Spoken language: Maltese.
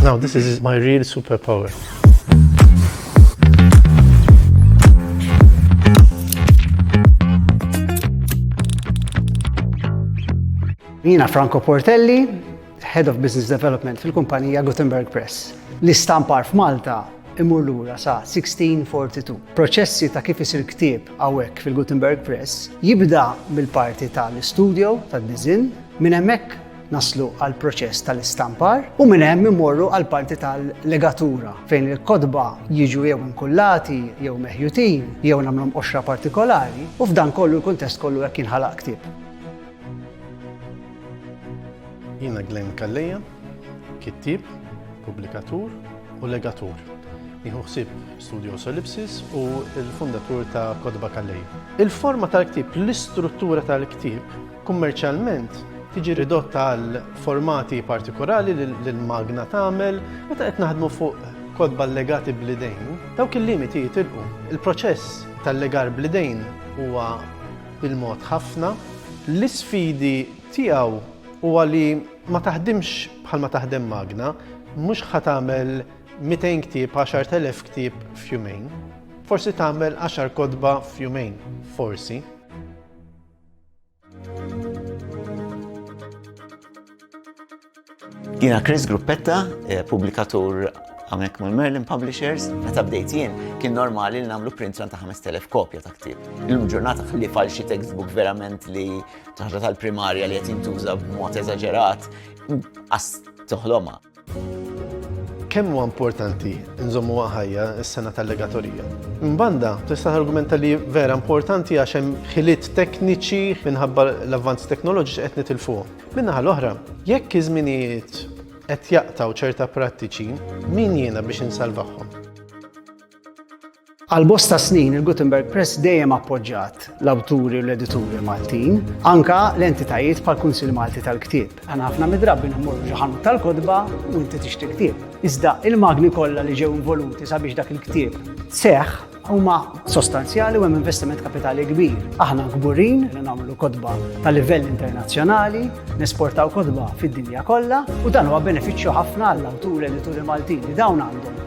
Now this is my real superpower. Jina Franco Portelli, Head of Business Development fil-kumpanija Gutenberg Press. L-istampar f'Malta imur lura sa 1642. Proċessi ta' kif isir ktieb hawnhekk fil-Gutenberg Press jibda mill-parti tal-istudjo tad-diżinn, minn hemmhekk naslu għal proċess tal-istampar u minn hemm imorru għal parti tal-legatura fejn il-kotba jiġu jew inkullati jew meħjutin jew nagħmlhom qoxra partikolari u f'dan kollu l-kuntest kollu hekk jinħalaq ktieb. Jiena Glenn Calleja, Kittieb, pubblikatur u legatur. Jieħu ħsieb Studios Ellipsis u l-fundatur ta' Kotba Kallej. Il-forma tal-ktieb, l-istruttura tal-ktieb, kummerċjalment tiġi ridotta għal formati partikolari li l-magna tagħmel meta qed naħdmu fuq kodba legati blidejn, dawk il-limiti jitilqu. Il-proċess tal-legar blidejn huwa bil-mod ħafna. L-isfidi tiegħu huwa li Ma taħdimx bħal ma taħdem magna, mhux ħa tagħmel 200 ktieb, 10,000 ktieb f'jumejn. Forsi tagħmel 10 kotba f'jumejn, forsi. Jina Chris Gruppetta, eh, publikatur għamnek mul Merlin Publishers, meta bdejt jien, kien normali li namlu print ta' 5000 kopja ta' ktib. Il-ġurnata xalli falxi textbook verament li Ħaġa tal-primarja li qed jintuża b'mod eżaġerat, inqas toħlomha. Kemm huwa importanti nżommuha ħajja s-sena tal-legatorija? Minn banda, tista' targumenta li vera importanti għax hemm ħiliet tekniċi minħabba l-avvanzi teknoloġiċi qed nitilfuhom. Min-naħa l-oħra, jekk iż-żminijiet qed jaqtaw ċerta prattiċi, min jiena biex insalvahom? Għal bosta snin il-Gutenberg Press dejjem appoġġat l-awturi u l-edituri Maltin, anka l-entitajiet bħal Kunsill Malti tal-Ktieb. Għana ħafna midrabbi nħmorru xi ħanut tal-kodba u inti tixtri ktieb. Iżda il-magni kollha li ġew involuti sabiex dak il-ktieb seħħ huma sostanzjali u hemm investiment kapitali kbir. Aħna kburin li nagħmlu kodba ta' livell internazzjonali, nesportaw kodba fid-dinja kollha u dan huwa benefiċċju ħafna għall-awturi edituri Maltin li dawn għandhom